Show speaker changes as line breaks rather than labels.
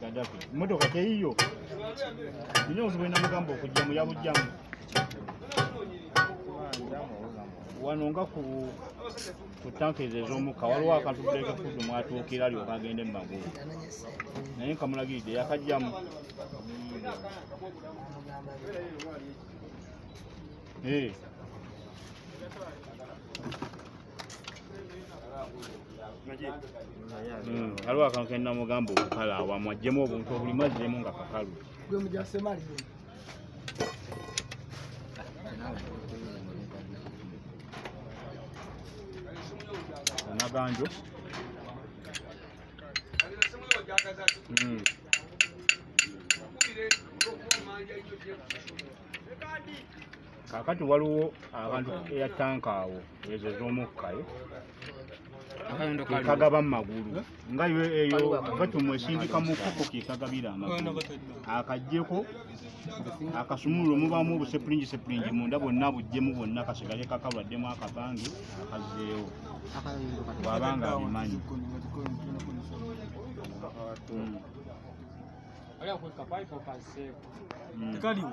Gaddafi mmotoka teyiyo nina obuzibu ena mugamba okujjamu yabujjamu wano nga ku ku tankezi ez'omukka waliwo akantu buleke fuddu mwatuukira alyoka agende mu magulu naye nkamulagiridde yakajjamu ee eh. Hmm, aliwo akantu kena mugamba okukala awamu ajjemu obuntu obulimu ajjemu nga kakalu onaganjo hmm. Thank you. kakati waliwo abantu eya tanka awo ezo ez'omukkayo kagaba mumagulu nga yo eyo gatumu esindika mukuku kekagabira amagulu akajjeko akasumululo mubamu obusepulingi sepulingi munda bonna bujjemu bwonna kasigale kakalwaddemu akabange akazeewo bwabanga abimanyi hmm.
Hmm.